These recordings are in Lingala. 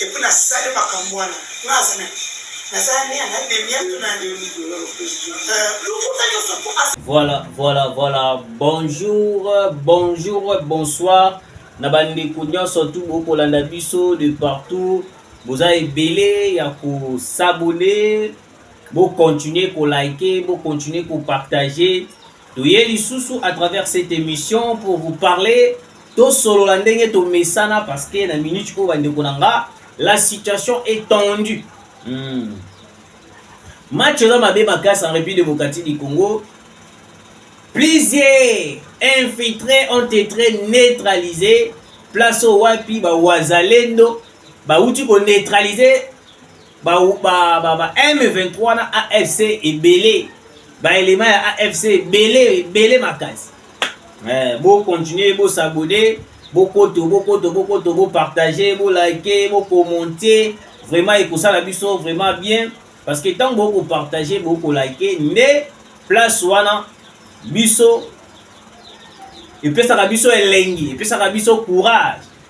Epuis na sali makambu wana nga aza na ki naza ne na demia to nani euh lokuta nioso po aza Voilà, voilà, voilà. Bonjour, bonjour, bonsoir. Na bandeko nyonso tu bokolanda biso de partout. Boza ebele ya ko s'abonner. Bo continuer ko liker, bo continuer ko partager. Toye lisusu à travers cette émission pour vous parler tosolola ndenge tomesana parce que na minute oyo bandeko na nga la situation est tendue hmm. match eza mabe makasi en république démocratique du congo plusieurs infiltrés ont été neutralisés place oyo wapi bawazalendo bauti koneutralise ba ba ba, ba M23 na AFC ebele ba elema ya AFC ebele ebele makasi eh, bo continuer bo s'abonner bokoto bokoto bokoto bopartage bolike bokomonte vraiment ekosala biso vraiment bien parce que ntango bokopartage bokolike nde place wana biso epesaka biso elengi epesaka biso courage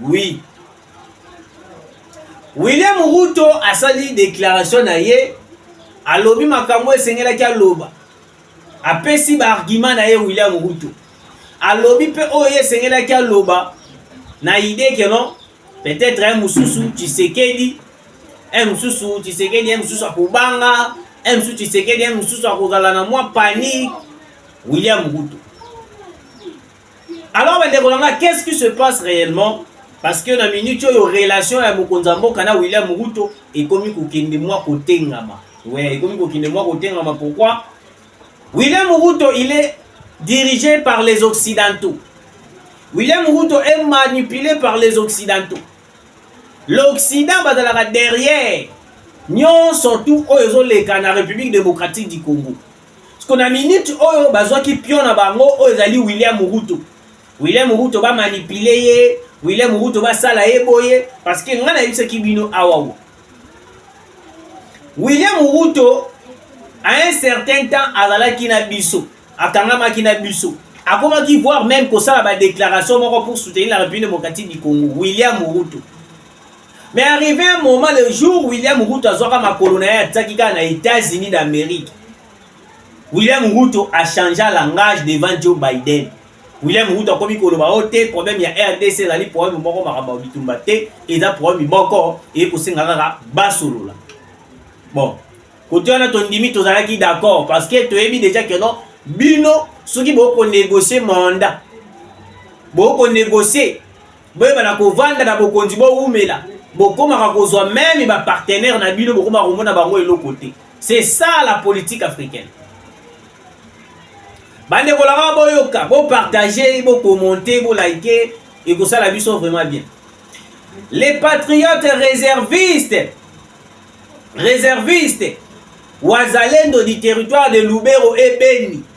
Oui. William Ruto asali déclaration na ye alobi makambo esengelaki aloba. Apesi ba argument na ye William Ruto. Alobi pe oyo ye esengelaki aloba na idée que non peut-être un mususu Tshisekedi un mususu Tshisekedi un mususu akobanga un mususu Tshisekedi un mususu akozala na mwa panique William Ruto Alors bandeko na nga, qu'est-ce qui se passe réellement parce que na minute oyo relation ya mokonzi ya mboka na William Ruto ekomi kokende mwa kotengama ouais, ekomi kokende mwa kotengama pourquoi William Ruto il est dirigé par les occidentaux William Ruto est manipulé par les occidentaux l'occident bazalaka derrière nyonso tout oyo ezoleka na république démocratique du congo Siko na minute oyo bazwaki pion na bango oyo ezali William Ruto. William Ruto ba manipuler ye, William Ruto ba sala ye boye parce que nga na yebisaki bino awa wo. William Ruto à un certain temps azalaki na biso, akangamaki na biso. Akomaki voir même kosala ba déclaration moko pour soutenir la République démocratique du Congo. William Ruto. Mais arrivé un moment, le jour William Ruto azwaka makolo na ye atiaki kaka na États-Unis d'Amérique, William Ruto a changea langage devant Joe Biden. William Ruto akomi koloba o oh, te problème ya RDC ezali problème moko makambo ya bitumba te, eza problème moko eye kosenga kaka basolola. Bon, kote wana tondimi tozalaki d'accord parce que toyebi déjà que non bino soki bokonégocier mandat bokonégocier boyeba na kovanda na bokonzi bowumela bokomaka kozwa meme bapartenaire na bino bokomaka komona bango eloko te c'est ça la politique africaine bandeko langa boyoka bopartage bokomente bolike ekosala biso vraiment bien les patriotes réservistes réservistes wazalendo du territoire de lubero ebeni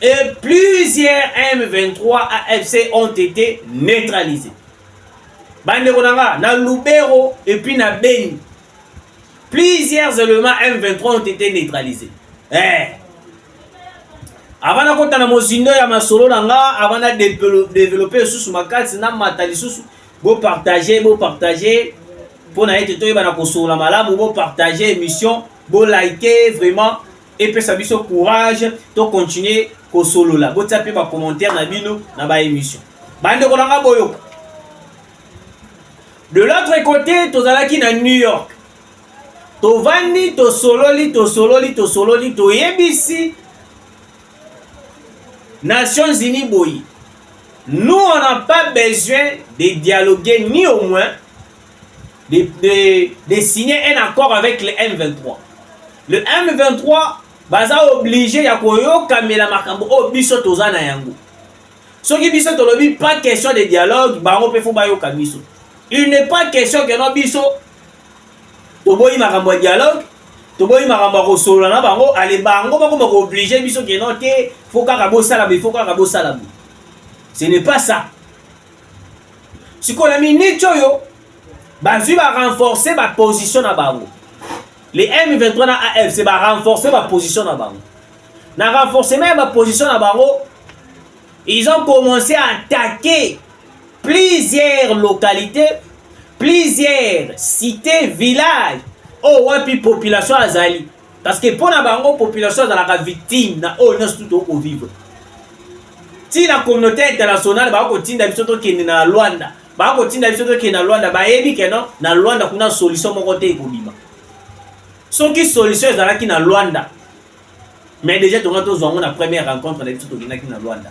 et plusieurs M23 AFC ont été neutralisés. Bandeko na nga, na Lubero et puis na Beni, plusieurs éléments M23 ont été neutralisés. Eh. Avant na kota na mozindo ya masolo na nga, avant na développer lisusu makasi na mata lisusu, bo partager, bo partager mpo na ete toyeba na kosolola malamu, bo partager émission, bo liker vraiment epesa biso courage to continuer kosolola botia mpe bacommentaire na bino na baémission bandeko na nga boyoka de l'autre côté tozalaki na new york tovandi tosololi tosololi tosololi toyebisi nations unis boye nous on n'a pas besoin de dialoguer ni au moins de, de, de signer un accord avec le M23. Le M23 baza oblige ya koyokamela makambo oyo biso toza na yango. Soki biso tolobi pas question de dialogue, bango mpe fo bayoka biso. Il n'est pas question que no biso toboyi makambo ya dialogue, toboyi makambo ya kosolola na bango, ale bango bakoma kooblige biso ke no te, fo kaka bosalama, ifo kaka bosalama. Ce n'est pas ça. sikoyo na miniti oyo bazwi ba renforcer ba position na bango le M23 na AFC ba renforcer ba position na bango na renforcement ya ba position na bango ils ont commencé à attaquer plusieurs localités plusieurs cités villages oyo oh, wapi population azali Parce que mpo na bango population azalaka victime na oyo nyonso tu tokoki kovivre ti na communauté internationale baa kotinda biso tokende na Luanda baa kotinda biso tokende na Luanda bayebi ke non na Luanda kuna solution moko te ekobima soki solution ezalaki na Luanda mais déjà tonga tozwa yango na première rencontre na biso tokendaki na Luanda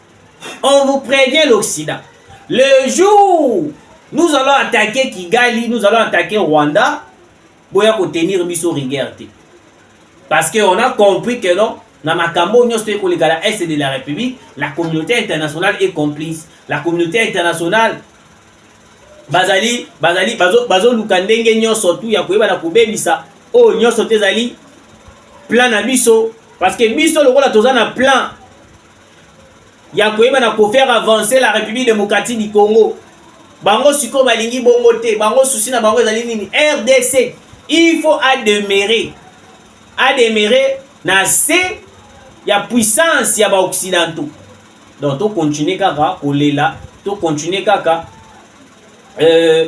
On vous prévient l'Occident. Le jour nous allons attaquer Kigali, nous allons attaquer Rwanda, boya ko tenir biso rigueur te. Parce que on a compris que non, na makambo nyonso to ekoleka na est de la République, la communauté internationale est complice. La communauté internationale bazali bazali bazoluka bazo ndenge nyonso tu ya koyeba na kobebisa oyo oh, nyonso te ezali plan na biso parce que biso lokola toza na plan ya koyeba na kofaire avancer la république démocratique du congo bango sikoyo balingi bongo te bango susi na bango ezali nini rdc il faut ademere ademere na se ya puissance ya baoccidentaux donc tocontinue kaka kolela tocontinue kaka euh,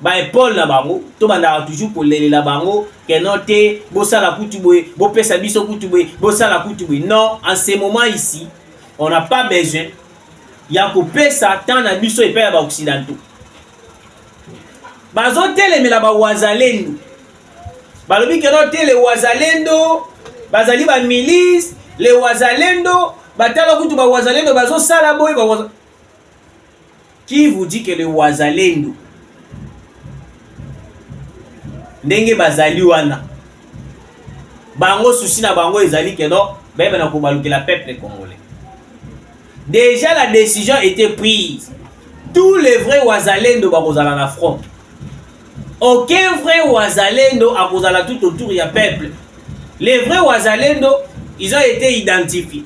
ba epole na bango tobandaka toujours kolelela bango ke non te bosala kutu boye bopesa biso kutu boye bosala kutu boye non en ce moment ici on n'a pas besoin ya kopesa temps na biso epai ya baoccidentaux bazotelemela bawazalendo balobi ke non te le wazalendo bazali bamilise le wazalendo batala kutu bawazalendo bazosala boye Qui vous dit que le wazalendo ndenge bazali wana bango susi na bango ezali que non bayeba na kobalukela peuple congolais déjà la décision était prise tous les vrais wazalendo bakozala na front aucun vrai wazalendo akozala tout autour ya peuple les vrais wazalendo ils ont été identifiés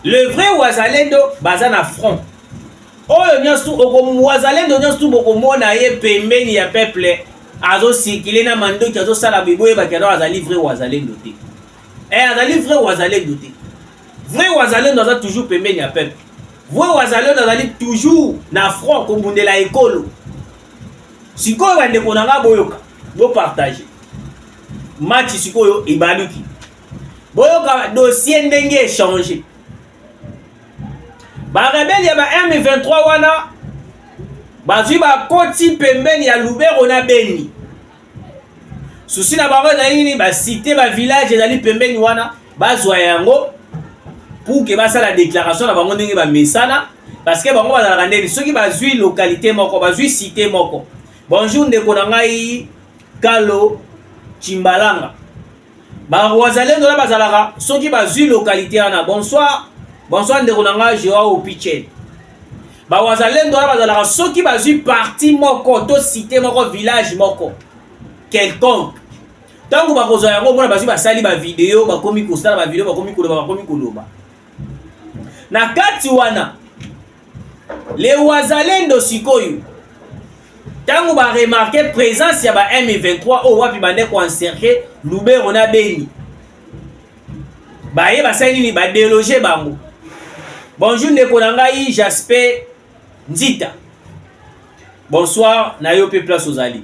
le vrai wazalendo baza na front oyo nyonso tu wazalendo nyonso tu bokomona ye pembeni ya peuple azosikile na mandoki azosala biboyebaki alors azali vrai wazalendo te eh, azali vrai wazalendo te vrai wazalendo aza toujours pembeni ya peuple vrai wazalendo azali toujours na front kobundela ekolo sikoyo bandeko na nga boyoka bopartage match sikoyo ebaluki boyoka dossier ndenge echange barebele ya ba M23 wana bazwi bakoti pembeni ya Lubero na Beni. Susi na bango ezali nini? Basite bavillage ezali pembeni wana bazwa yango pour ke basala deklaration na bango ndenge bamesana, parce que bango bazalaka ndeni soki bazwi localité moko bazwi site moko. Bonjour ndeko na ngai Kalo Chimbalanga. Ba Wazalendo na bazalaka soki bazui localité wana. Bonsoir. Bonsoir ndeko na ngai Joao Opichen. Ba Wazalendo wana bazalaka soki bazui parti moko to cité moko village moko quelconque. Tango bakozwa yango mona bazui basali ba video bakomi kosala ba video bakomi koloba bakomi koloba. Na kati wana Le Wazalendo sikoyo ntango ba remarque présence ya ba M23 oyo wapi bande ko encercler Lubero na Beni baye basali nini ba déloger bango bonjour ndeko na ngai Jasper Nzita bonsoir na yo mpe place ozali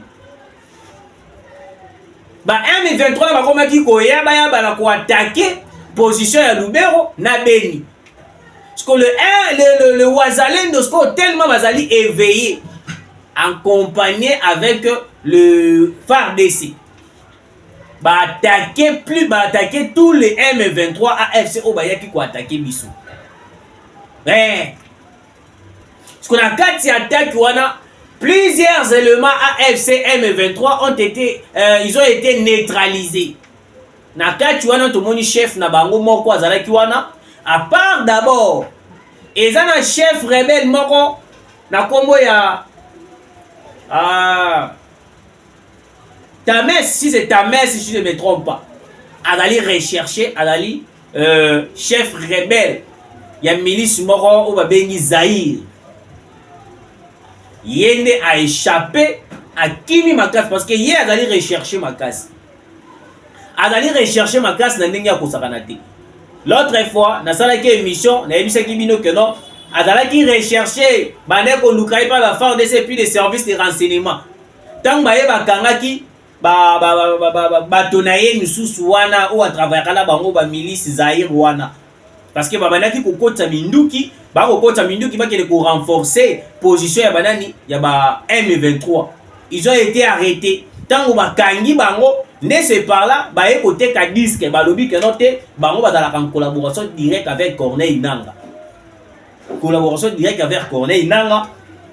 ba M23 bakomaki koyabayaba na koatake position ya Lubero na Beni. Parce que le, le, le, le Wazalendo, ce qu'on tellement Wazali éveillé, accompagné avec le FARDC. Bah attaquer plus, bah attaquer tous les M23 AFC au Bayaki qui attaquer Bissou. Mais Siko na kati ya attaque wana plusieurs éléments AFC M23 ont été euh, ils ont été neutralisés. Na kati wana tomoni chef na bango moko azalaki wana à part d'abord eza na chef rebelle moko na kombo ya ah, Tames, si c'est Tames, si je ne me trompe pas, azali recherche, azali euh, chef rebelle ya milice moko oyo babengi Zaïre. Ye nde a échappé, akimi makasi parce que ye azali recherche makasi. Azali recherche makasi na ndenge ya kosakana te. L'autre fois, nasalaki émission, nayebisaki bino que non, azalaki recherche bande koluka ye mpa ba FARDC puis les services de renseignement ntango baye bakangaki bato na ye misusu wana oyo atravayaka na bango bamilisi zaire wana parce que babandaki kokotisa minduki bakokotisa minduki bakende korenforce position ya banani ya ba m23 ils ont été arrêtés ntango bakangi bango nde se par là baye koteka diske balobi keno te bango bazalaka en collaboration direct avec corneille nanga collaboration direct avec Corneille Nanga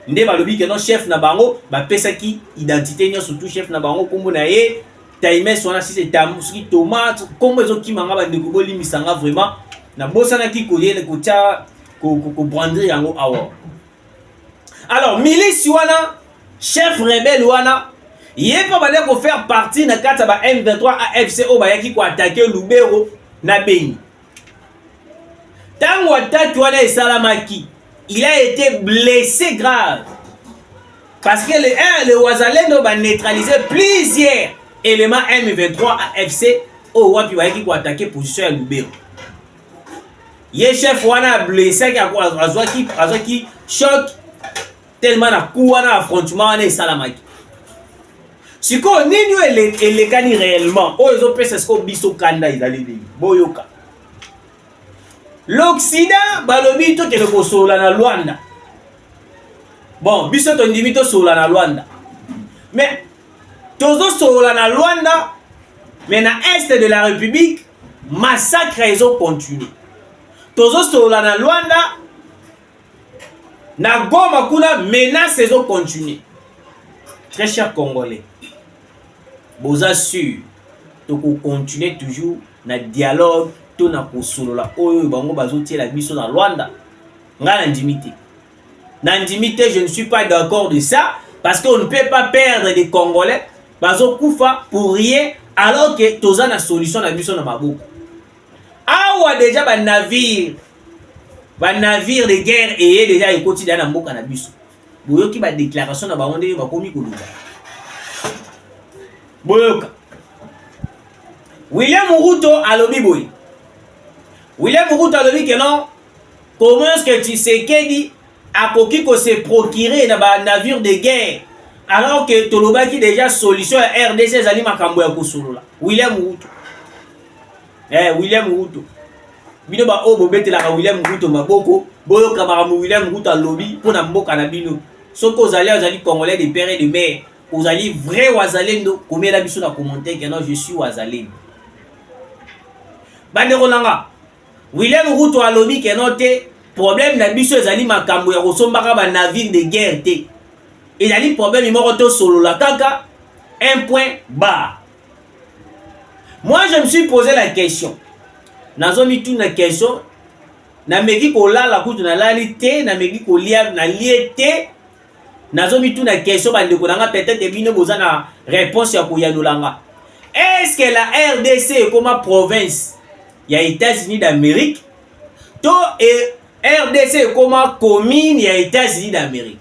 nde balobi ke non chef na bango bapesaki identité nyonso tout chef na bango nkombo na ye times wana si etambo soki tomate nkombo ezokima nga bandeko bolimbisa nga vraiment nabosanaki koyele kotya kobrandre yango awa alors milice wana chef rebelle wana ye mpe bande kofaire partie na kati ya ba m23 afc oyo bayaki koatake lubero na beni Tango attaque wana esalamaki, il a été blessé grave. Parce que le, hein, le Wazalendo ba neutraliser plusieurs éléments M23 AFC oyo wapi bayaki koatake position ya Lubero. Ye chef wana ablessaki, azwaki choc tellement na coup wana affrontement wana esalamaki sikoyo nini oyo ele, elekani réellement oyo ezopesa sikoyo biso kanda ezali nini boyoka l'occident balobi tokende kosolola na lwanda bon biso tondimi tosolola na lwanda mais tozosolola na lwanda mais na est de la république massacre ezocontinue tozosolola na lwanda na goma kuna menace ezo continue très cher congolais boza sur tokocontinue toujours na dialogue to na kosolola oyo bango bazotiela biso na rwanda ngai nandimi te nandimi te je ne suis pas d'accord de ça parce qu'on ne peut pas perdre des congolais bazokufa pour rien alors que toza na solution na biso na maboko awa deja banavire ba navire de guerre eye deja ekoti deja na mboka na biso boyoki ba déclaration na bango ndenge bakomi koloba boyoka William Ruto alobi boye William Ruto alobi que non comment est-ce que Tshisekedi akoki ko se procurer na ba navire de guerre alors que tolobaki déjà solution ya RDC ezali makambo ya kosolola William Ruto eh, William Ruto bino baoyo bobetelaka William Ruto maboko boyoka makambo William Ruto alobi mpo na mboka na bino soki ozali ozali congolais de père et de mère ozali vrai wazalendo komela biso na commentaire que non je suis wazalendo bandeko na nga William Ruto alobi que non te problème na biso ezali makambo ya kosombaka ba navire de guerre te ezali problème moko tosolola kaka un point bar Moi je me suis posé la question. Nazo mituna question nameki kolala kutu nalali te nameki kolia nalie te nazo mituna question bandeko na nga peut-être bino boza na réponse ya koyanola nga est-ce que la rdc ekoma province ya états-unis d'amérique to e, rdc ekoma commune ya états-unis d'amérique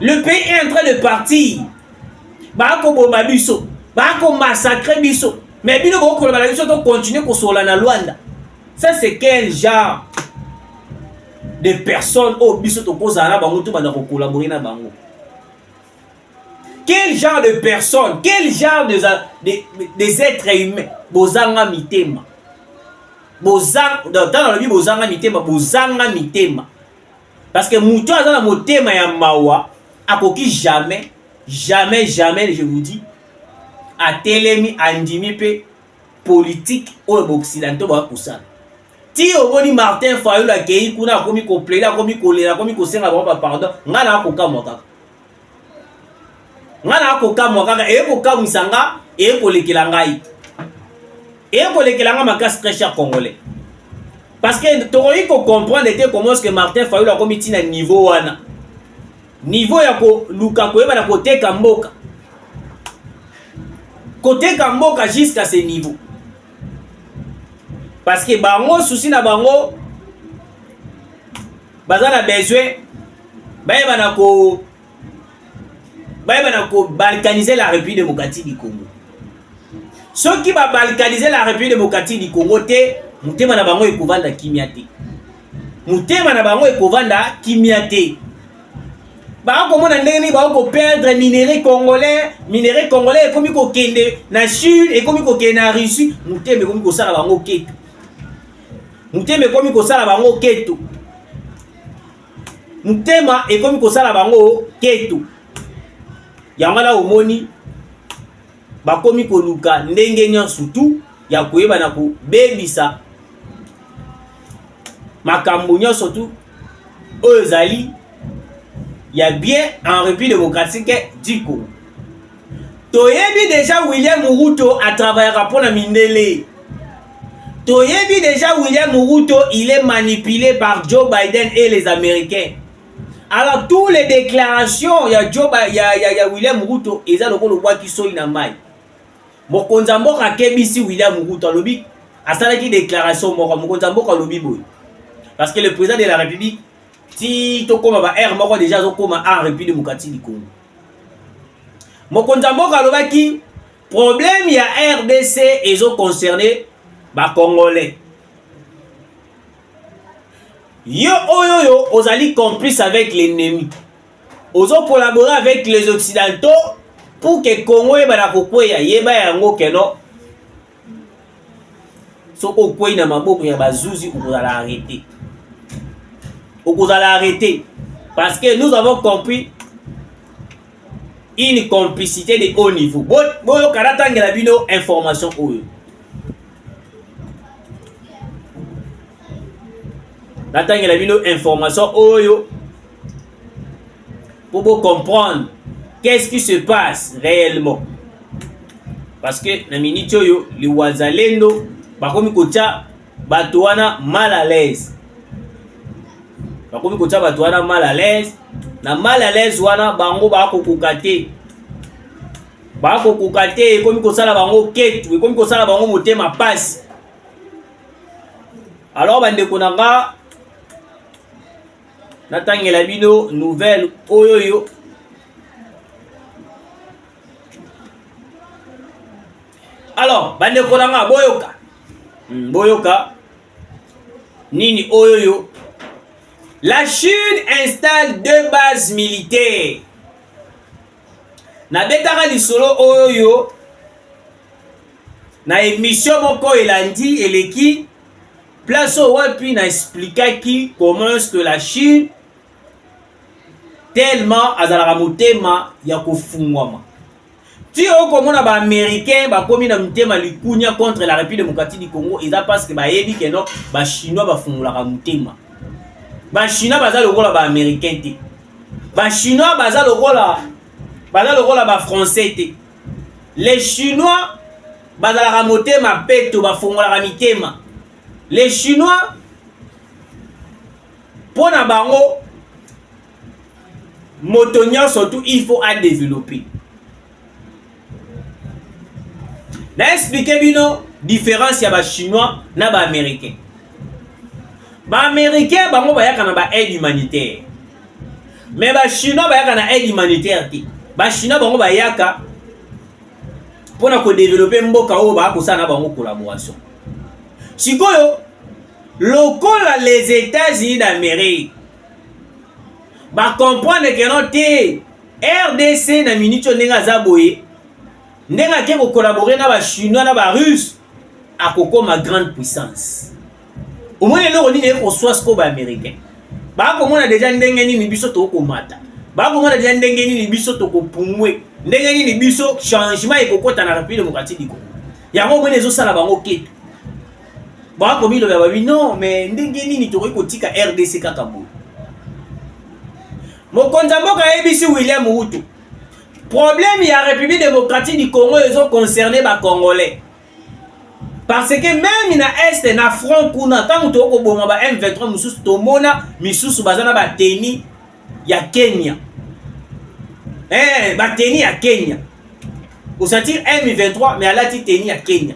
le pays est en train de partir bakoboma biso bakomassacre biso me bino bokoloba na biso tokontinue kosola na lwanda ça c'est quel genre de personnes oyo biso tokozala na bango to banda kokolabore na bango quel genre de personnes quel genre des de, de, de êtres humains bozanga mitema bozanga ntango alobi bozanga mitema bozanga mitema Parce que mutu aza na motema ya mawa akoki jamais jamais jamais je vous dis atelemi andimi mpe politike oyo baoccidentaux baya kosala ti omoni martin fayulu akei kuna akomi koplede akomi kolela akomi kosenga bango bapardon ngai naa kokamwa kaka nga na kokamwa kaka eye kokamwisa nga eye kolekela ngai eye kolekela nga makasi très cher congolais parce que tokoki kocomprendre ete comment est ce que martin fayulu akomi ntina niveau wana niveau ya koluka koyeba na koteka mboka koteka mboka jusqu'à ce niveau parce que bango susi na bango baza na besoin bayeba na ko bayeba na ko balkaniser la République démocratique du Congo soki ba balkaniser la République démocratique du Congo te motema na bango ekovanda kimia te motema na bango ekovanda kimia te bakomona ndenge nini bakoperdre minerai congolais minerai congolais ekomi kokende na sud ekomi kokende na russie motema ekomi kosala bango ketu motema ekomi kosala bango ketu motema ekomi kosala bango ketu yango wana omoni bakomi koluka ndenge nyonso tu ya koyeba na kobebisa makambo nyonso tu oyo ezali ya bien en république démocratique du congo toyebi deja william ruto atravayaka mpo na mindele toyebi deja william ruto il est manipulé par joe biden et les américains alors tous les déclarations ya joe ya, ya, ya william ruto eza lokola obwaki soi na mai mokonzi ya mboka akebisi william ruto alobi asalaki déclaration moko mokonzi ya mboka alobi boye parce que le président de la république ti tokóma ba aire moko déjà azokóma en république démocratique du congo mokonzi ya mboka alobaki problème ya rdc ezo concerne bacongolais yo oyo oyo ozali complice avec l'ennemi ozo collabore avec les occidentaux pour que congo eyebana kokweya yeba yango keno so okwei na maboko ya bazuzi okozala arrete okozala arrete parce que nous avons compris une complicité de haut niveau boyoka natangela bino information oyo natangela bino information oyo Pour vous comprendre qu'est-ce qui se passe réellement. Parce que na minute oyo liwazalendo bakomi kotya bato wana mal à l'aise. Bakomi kotya bato wana mal à l'aise. Na mal à l'aise wana bango bakokoka te. Bakokoka te ekomi kosala bango ketu, ekomi kosala bango motema pasi. Alors bandeko na nga natangela bino nouvelle oyo yo alors bandeko na nga boyoka hmm, boyoka nini oyo yo la chine installe deux bases militaires nabetaka lisolo oyo yo na emission moko elandi eleki place oyo wapi na explikaki comment est-ce que la chine tellement azalaka motema ya kofungwama ti okomona baaméricain bakomi na motema likunia contre la république démocratique du congo eza parce que bayebi keno bachinois bafungolaka motema bachinois baza lokola baaméricain te bachinois baza lokola baza lokola bafrançais te les chinois bazalaka motema peto bafongolaka mitema les chinois mpo na bango moto nyonso tu il faut adeveloppe na explike bino différence ya bachinois na baaméricain baaméricain bango bayaka na baaide humanitaire Mais ba chinois bayaka na aide humanitaire te. Ba chinois bango bayaka pona ko développer mboka oyo ba ko sana bango collaboration. Sikoyo lokola les États-Unis d'Amérique ba comprendre que non te RDC na minute oyo ndenge aza boye ndenge ake ko collaborer na ba chinois na ba russe akokoma grande puissance. omoni eloko nini ekoswa sikoyo baaméricain bakomona deja ndenge nini biso tokomata bakomona deja ndenge nini biso tokopumwe ndenge nini biso changement ekokota na république démocratique du congo yango omoni ezosala bango ketu bakomilobela babi non mais ndenge nini tokoki kotika rdc kaka boye mokonzi ya mboka ayebisi william wutu problème ya république démocratique du congo ezoconcerne bacongolais parce que meme na est na front kuna ntango toyei koboma ba m23 mosusu tomona misusu baza na bateni ya kenya eh, bateni ya kenya osatire m23 mais alati teni ya kenya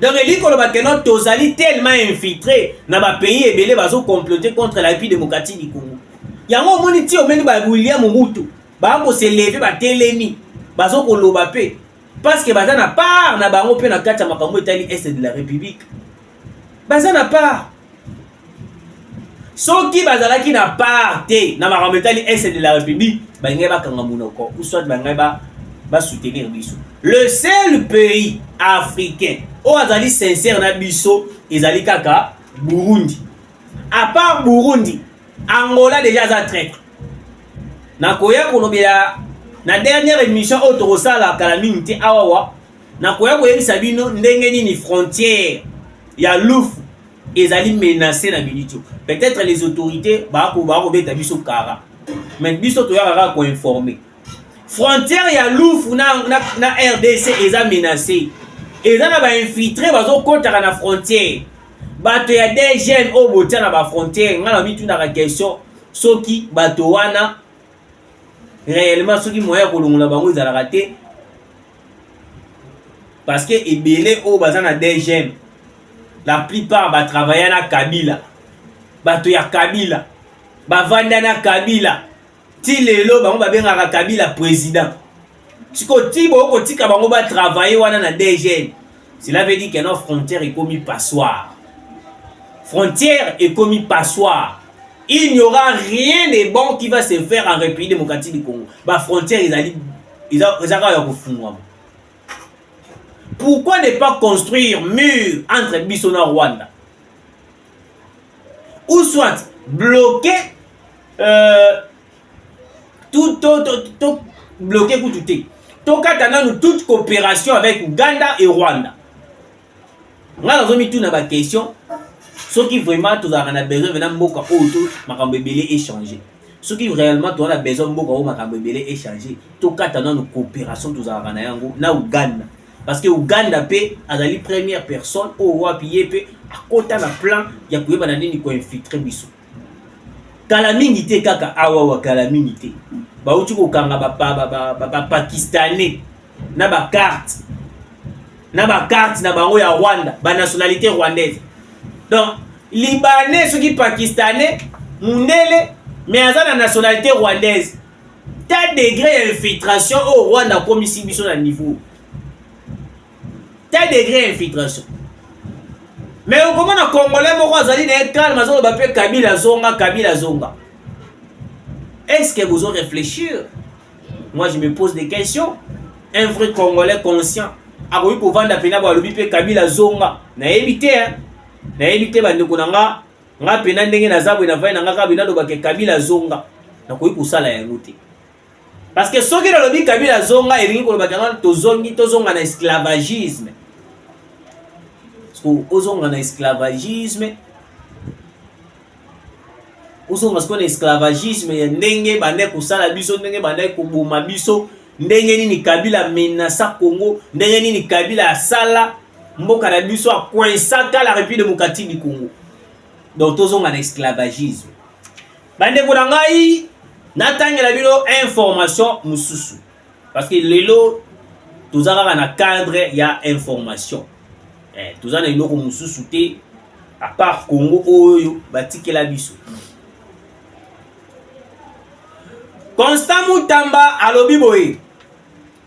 donc elingi koloba keno tozali tellement infiltré na bapays ebele bazocomplote contre la république démocratique du congo yango omoni ti omeni ba william mutu Bango se lever batelemi bazo koloba pe parce que baza na part na bango pe na kati ya makambo etali est de la république baza na part soki bazalaki na part te na makambo etali est de la république balingai bakanga monoko ou soit balingai ba basoutenir biso le seul pays africain oyo azali sincère na biso ezali kaka burundi à part Burundi Angola déjà aza traitre nakoya kolobela na dernière émission oyo tokosala kala mingi te awawa nakoya koyebisa bino ndenge nini frontière ya lufu ezali menacé na minute oyo peut-être les autorités bakoba kobeta biso kara mais biso toyaka kaka koinforme frontière ya lufu na, na, na rdc eza menacé eza na bainfiltre bazokotaka na frontière bato ya dgn oyo botya na bafrontiere ngai na mitunaka question soki bato wana réellement soki moyen ya kolongola bango ezalaka te parce que ebele oyo baza na dgm la plupart batravailla na kabila bato ya kabila bavanda na kabila ti lelo bango babengaka kabila président siko ti bokotika bango batravaille wana na dgn cela veut dire keno frontière ekomi passoire frontière ekomi passoire il n'y aura rien de bon qui va se faire en république démocratique du congo bafrontière ezali eza kaka ya kofungwama pourquoi ne pas construire mur entre biso na rwanda ou soit bloquer euh, tout, tout, tout, tout bloquer kutu te tokata nanu toute coopération avec Ouganda et Rwanda nga nazomituna baquestion soki vraiment tozalaka na besoin vena mboka oyo to makambo ebele échange soki réellement toza na besoin mboka oyo makambo ebele échange tokata nanu coopération tozalaka na yango na uganda parce que Ouganda pe azali première personne oyo wapi ye pe akota na plan ya koyeba na nini ko infiltre biso kala mingi te kaka awawa kala mingi te bauti kokanga bapakistanais na bacarte na bacarte na bango ya rwanda banationalité rwandaise donc libanais soki pakistanais mundele mais aza na nationalité rwandaise ta degre ya infiltration oyo oh, rwanda akomisi biso na niveau ta degre ya infiltration me okomona congolais moko azali na ye calme azoloba mpe kabila azonga kabila azonga est ce que bozo réfléchir moi je me pose des questions un vrai congolais conscient akoki kovanda mpena balobi mpe kabila azonga nayebi te nayebi te bandeko na nga nga pena ndenge naza boye navai na nga kaka boye nalobaka kabila azonga nakoki kosala yango te parce que soki nalobi kabila azonga elingi kolobaka yango tozongi tozonga na esclavagisme ozonga na esclavagisme ozonga sikoyo na esclavagisme ya ndenge bandaki kosala biso ndenge bandaki koboma biso ndenge nini kabila amenasa congo ndenge nini kabila asala mboka na biso a coinsaka la République démocratique du Congo donc tozonga na esclavagisme bandeko na ngai natangela bino information mosusu parce que lelo toza kaka na cadre ya information eh, toza na eloko mosusu te apart congo oyo batikela biso constant mutamba alobi boye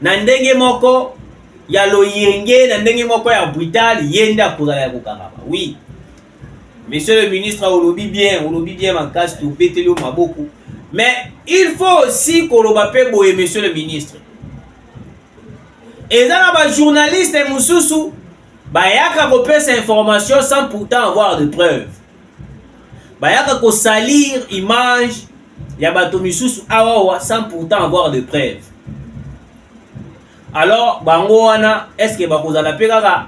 na ndenge moko ya loyenge na ndenge moko ya brutal ye nde akozala ya kokangama oui monsieur le ministre olobi bien olobi bien makasi tobeteli yo maboko mais il faut aussi koloba mpe boye monsieur le ministre eza na bajournaliste mosusu bayaka kopesa information sans pourtant avoir de preuve bayaka kosalir image ya bato misusu awawa sans pourtant avoir de preuve alors bango wana est ce que bakozala mpe kaka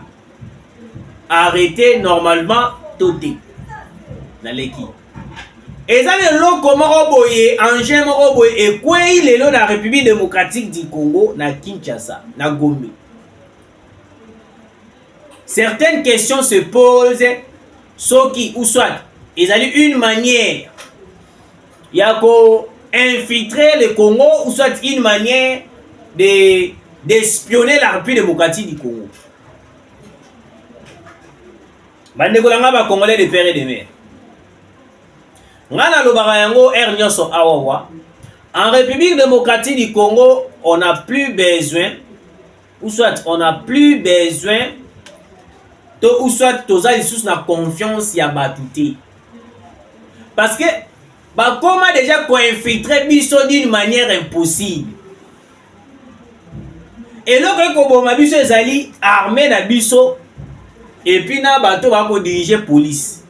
arrete normalement to te naleki eza na eloko moko boye engin moko boye ekwei lelo na république démocratique du congo na kinshasa na gombe certaines questions se pose soki ou soit ezali une manière ya ko infiltrer le Congo ou soit une manière de d'espionner la République démocratique du Congo bandeko na ngai bacongolais de père et de mère ngai nalobaka yango r nyonso awawa en république démocratique du congo on a plus besoin ou soit on a plus besoin to ou soit toza lisusu na confiance ya bato te parce que bakoma déjà koinfiltre biso d'une manière impossible eloko ekoboma biso ezali arme na biso epuis na bato bakodirige police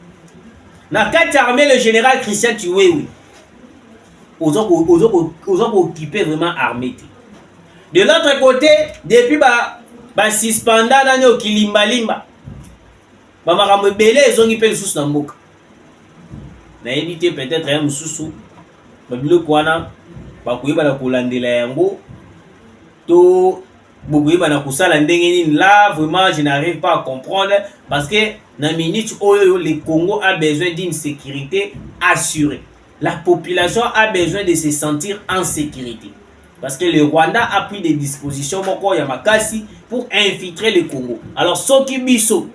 na kati ya arme le général christian chiwewe oza ko oza ko oza ko occuper vraiment armée te de l'autre côté depuis ba ba suspenda nani okilimba limba ba makambo ebele ezongi mpe lisusu na mboka nayebi te peut-être ya mosusu babiloko wana bakoyeba na kolandela yango to bokoyeba na kosala ndenge nini la vraiment je n'arrive pas à comprendre parce que na minute oyo le congo a besoin d'une sécurité assurée La population a besoin de se sentir en sécurité. Parce que le Rwanda a pris des dispositions moko ya makasi pour infiltrer le Congo. Alors soki biso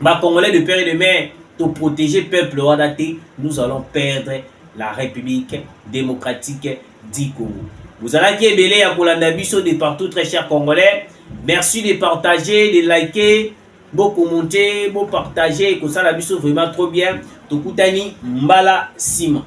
ba Congolais de père et de mère to protéger peuple wana te, nous allons perdre la République démocratique du Congo. Vous allez qui ebele ya kolanda biso de partout très chers Congolais. Merci de partager, de liker. Bo commenter, bo partager, ekosala biso vraiment trop bien. Tokutani mbala sima.